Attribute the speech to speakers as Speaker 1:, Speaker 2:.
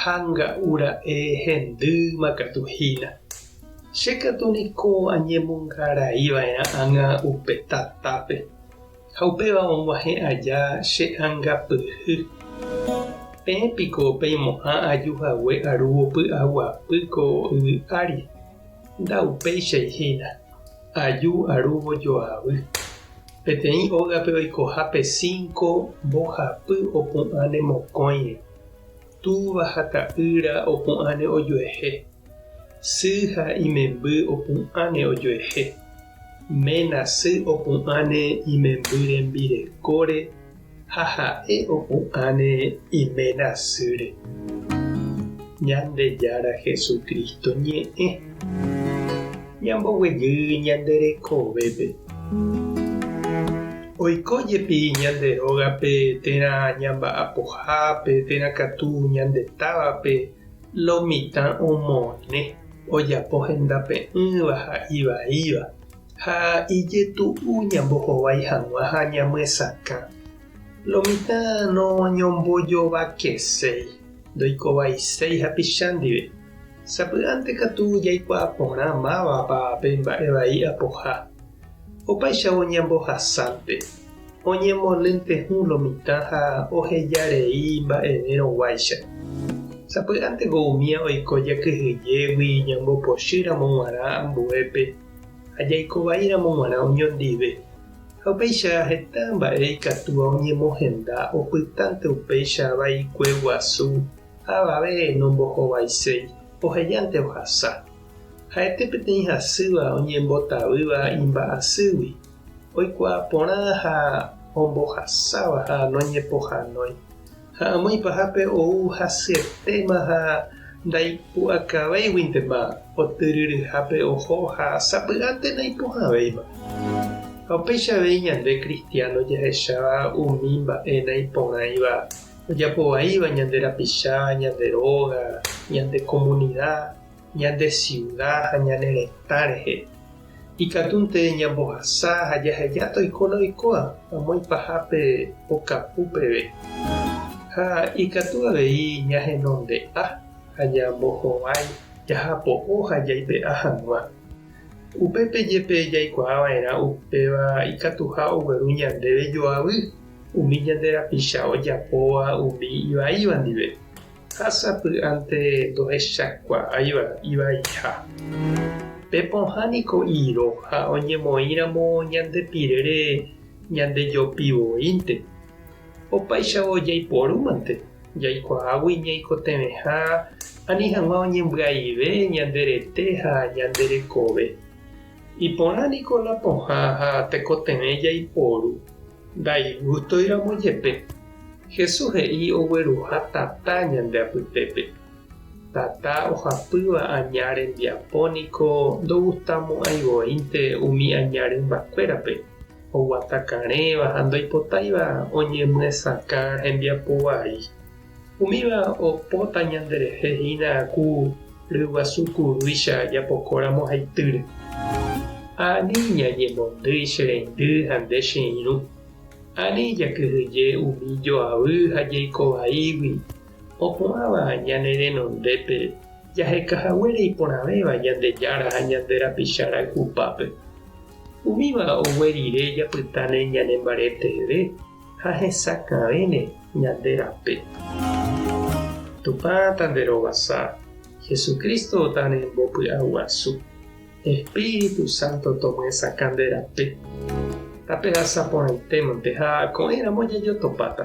Speaker 1: ha nga'u ra'e hendýma katu hína. Che katu niko añemongarai va'erã ág̃a upe tatápe, ha upéva og̃uahẽ aja che angapyhy. Peẽ piko peimo'ã aju hague arúvo py'aguapy ko yvy ári, nda upéichai hína, aju arúvo joavy. Peteĩ ógape oikoha pe cinco mbohapy opu'ã ne mokõire. Túva ha ta'ýra opu'ãne ojuehe, sy ha imemby opu'ãne ojuehe, ména sy opu'ãne imemby rembirekóre ha ha'e opu'ãne iména sýre. Ñandejára Jesucristo ñe'ẽ. Ñamboguejy ñande rekovépe. Oiko jepi ñande rógape térã ñamba'apohápe térã katu ñande távape lo mitã omone ojapo hendape'ỹva ha ivaíva, ha ijetu'u ñambohovái hag̃ua ha ñamyesakã. Lo mitã noñombojovakeséi, ndoikovaiséi hapicha ndive. Sapy'ánte katu jaikuaa porã mávapa pe mba'e vai apoha. Opaichagua ñambohasánte, oñemolyntye hũ lo mitã ha oheja rei mba'evérõ guáicha. Sapy'ánte ko umía oiko jakyhyjégui ñambopochy ramo guarã ambuépe ha jaiko vai ramo guarã oñondive. Ha upéicha heta mba'e ikatúva oñemohenda opytánte upéicha vaikue guasu Avave nombohovaiséi, ohejánte ohasa. Ha'ete peteĩ hasýva oñembotavýva imba'asýgui, oikuaa porã ha ombohasáva ha noñepohanói. Ha amoĩ pahápe ou hasyetéma ha ndaipu'akavéiguintema otyryryhápe oho ha sapy'ánte naipohãvéima. Ha upéicha avei ñande kristiáno jahecháva umi mba'e naiporãiva ojapo vaíva ñande rapicha, ñande róga, ñande komunida, ñande siuda ha ñane retã rehe. Ikatúnte ñambohasa ha jaheja toikóna oikóva amo ipahápe okapu peve. Ha ikatu avei ñahenonde'a ha ñambohovái jahapo'o ha jaipe'a hag̃ua. Upépe jepe jaikuaa va'erã upéva ikatuha ogueru ñandéve joavy umi ñande rapicha ojapóva umi ivaíva ndive, ha sapy'ánte ndohechakuaáiva ivaiha. Pe pohã niko iro ha oñemoĩramo ñande pirére ñandejopi voínte. Opaichavo jaiporúmante, jaikuaágui ñaikotevẽha ani hag̃ua oñembyaive ñande rete ha ñande rekove. Iporã niko la pohã ha tekotevẽ jaiporu Ndaigústoiramo jepe, Jesús he'i ogueruha tata ñande apytépe. Tata ohapýva aña rembiapo niko ndogustamo'ãi voínte umi aña rymbakuérape, oguata karẽva ha ndoipotáiva oñemyesakã hembiapo vai. Umíva opóta ñanderehe hína ku ryguasu kurúicha japokóramo haitýre. Ha ani ñañemondýi che reindy ha nde che irũ. Ani jakyhyje umi joavy ha jeiko vaígui, opu'ãva ñane renondépe jaheka haguére iporãvéva Ñandejára ha ñande rapicha rayhupápe. Umíva ogue rire japytáne ñanembareteve. ha hesakãvéne ñande rape. Tupã Tanderovasa, Jesucristo Tanembopy'aguasu, Espíritu Santo tomyesakã nde rape. Tapehasa porãitémante ha ko'ẽramo jajotopáta.